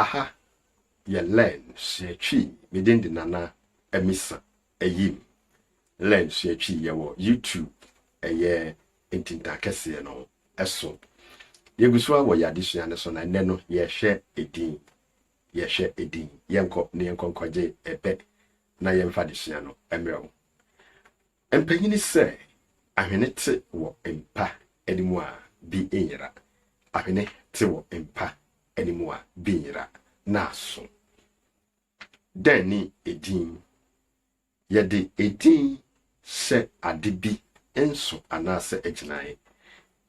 Aha yɛ Len sua Twi me din de Nana Amisa Ayim Len sua Twi yɛ wɔ YouTube ɛyɛ ntintan kɛseɛ no so yɛgu so ara wɔ yɛ adesua no so na nnɛ no yɛhwɛ edin yɛhwɛ edin yɛnkɔ na yɛnkɔ nkɔgye ɛbɛ na yɛmfa adesua no mmerɛ wo Mpanyini sɛ ahwene te wɔ mpa anim a bi nyera, ahwene te wɔ mpa anim a bi nyera na aso. Dɛn ne edin? Yɛde edin hyɛ ade bi nso anaasɛ agyinae.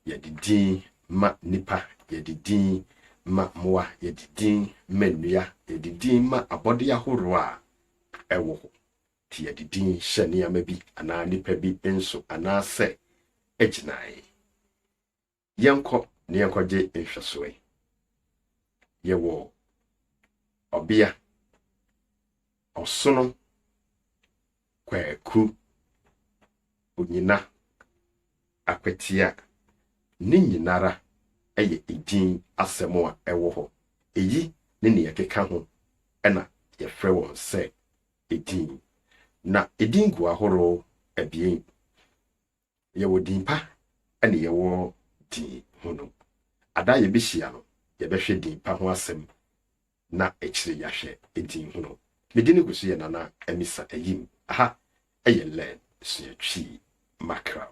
Yɛde din ma nnipa, yɛde din ma mmoa, yɛde din ma nnua, yɛde din ma abɔde ahorow a ɛwɔ hɔ. de yɛde din hyɛ nneɛma bi anaa nnipa bi nso anaasɛ gyinae. Yɛnkɔ na yɛnkɔgye nhwɛsoe. Yɛwɔ ɔbea ɔsono kwaku onyina akwatia ne nyinara ɛyɛ edin asɛm a ɛwɔ hɔ eyi ne nea ɛkeka ho na yɛfrɛ wɔn sɛ edin. Na edin gu ahorow abien, yɛwɔ din pa ne yɛwɔ din hunu. Ada a yebehyia no, yɛbɛhwɛ din pa ho asɛm na akyiri yɛahwɛ din hunu. Me din gu so yɛ Nana Amisa Ayim. Aha yɛ Learn Sua Twi Mackerel.